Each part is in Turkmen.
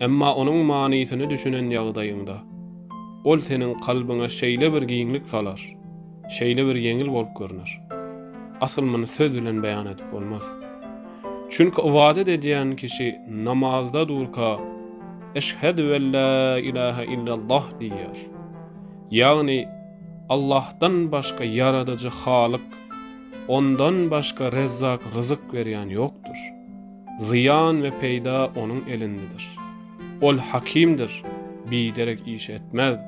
Emma onuň manysyny düşünen ýagdaýyňda, ol seniň kalbyňa şeýle bir giňlik salar, şeýle bir ýeňil bolup görner. Asyl muny söz bilen beýan edip bolmaz. Çünki ybadat edýän kişi namazda durka Eşhedü wella ilahe illallah diýýär. Ýagny Allahdan başga ýaradyjy halyk, ondan başga rezzak ryzyk berýän ýokdur. Zyýan we peýda Onuň elindedir. Ol Hakimdir, biderek iş etmez.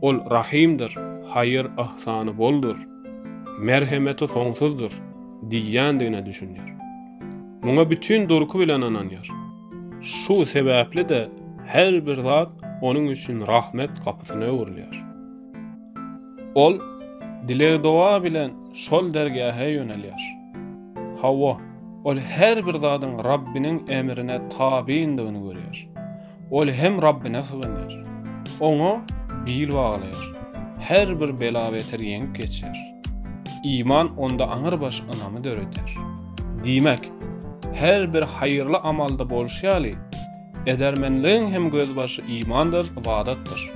Ol Rahymdyr, haýyr-yhsany boldur, merhemeti soňsuzdyr diýýändigine düşünýär. Muňa bütin durky bilen ynanýar. Şu sebäpli-de her bir zat onuň üçin rahmet gapysyna öwrülýär. Ol dileg-doga bilen şol dergähe ýönelýär. Hawa, ol her bir zadyň Rabbiniň emrine tabyndygyny görýär. Ol hem Rabbine syganýar. Oňa bil baglaýar. Her bir bela-beter ýeňip geçýär. Iman onda aňrybaş ynamy döredýär. Diýmek, her bir haýyrly amalda bolşy ýaly, Edermenligiň hem gözbaşy imandyr, ybadatdyr.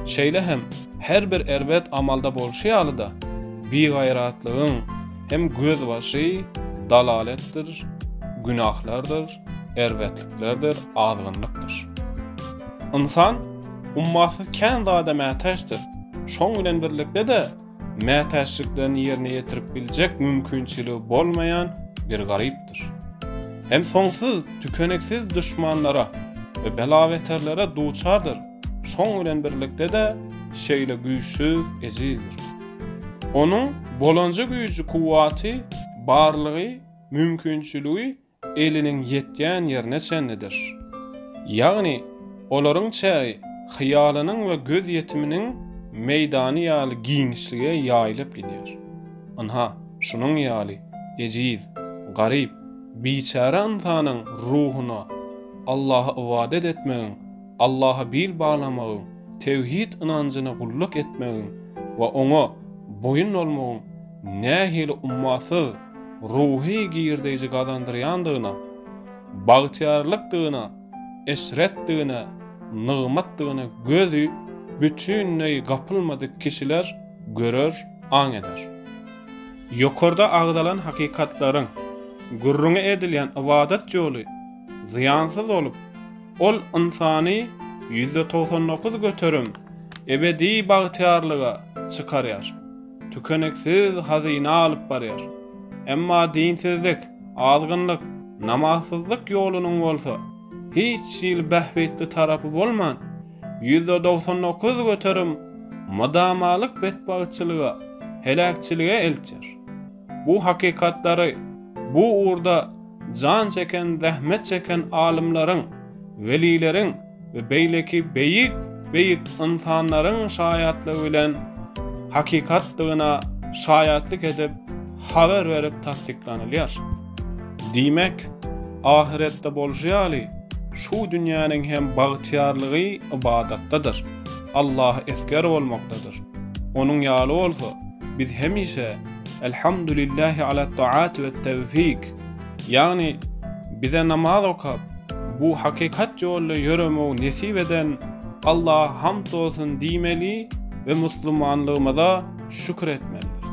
Şeýle hem her bir erbet amalda bolşy ýaly-da, bigaýratlygyň hem gözbaşy dalaletdir, günahlardyr, erbetliklerdir, azgynlykdyr. Ynsan ummasyz kän zada mätäçdir, şoň bilen birlikde-de, mätäçliklerini ýerine ýetirip biljek mümkinçiligi bolmaýan bir garypdyr. Hem soňsuz, tükeniksiz duşmanlara we bela-beterlere duçardyr, şoň bilen birlikde-de şeýle güýçsüz, ejizdir. Onuň bolanja güýji-kuwwaty, barlygy, mümkinçiligi eliniň ýetýän ýerine çenlidir. Ýagny, olaryň çägi hyýalynyň we gözýetiminiň meýdany ýaly giňişlige ýaýylyp gidýär. Ynha, şunuň ýaly ejiz, garyp, biçäre ynsanyň ruhuna Allaha ybadat etmegiň, Allaha bil baglamagyň, tewhid ynanjyna gulluk etmegiň we Oňa boýun bolmagyň nähili ummasyz, ruhy girdeýji gazandyrýandygyna, bagtyýarlykdygyna, eşretdigine, nygmatdygyna gözi bütinleý gapylmadyk kişiler görer, aň eder. Ýokarda agzalan hakykatlaryň gürrüňi edilýän ybadat ýoly zyýansyz bolup, ol ynsany ýüzde togsan dokuz göterim ebedi bagtyýarlyga çykarýar. tükeniksiz hazyna alyp barýar. Emma dinsizlik, azgynlyk, namazsyzlyk ýolunyň bolsa, hiç hili bähbitli tarapy bolman, ýüzde dogsan dokuz göterim mydamalyk betbagtçylyga, heläkçilige eltýär. Bu hakykatlary bu ugurda jan çeken, zähmet çeken alymlaryň, welileriň, we beýleki beýik beýik ynsanlaryň şaýatlygy bilen hakykatdygyna şaýatlyk edip habar berip tassyklanylýar. Diýmek, ahyretde bolşy ýaly, şu dünýäniň hem bagtyýarlygy ybadatdadyr, Allaha esger bolmakdadyr. Onuň ýaly bolsa, biz hemişe Elhamdulillähi alat-taat we tewfik! Ýagny, bize namaz okap, bu hakykat ýolda ýöremegi nesip eden Allaha hamd bolsun diýmeli we musulmanlygymyza şükür etmelidiris.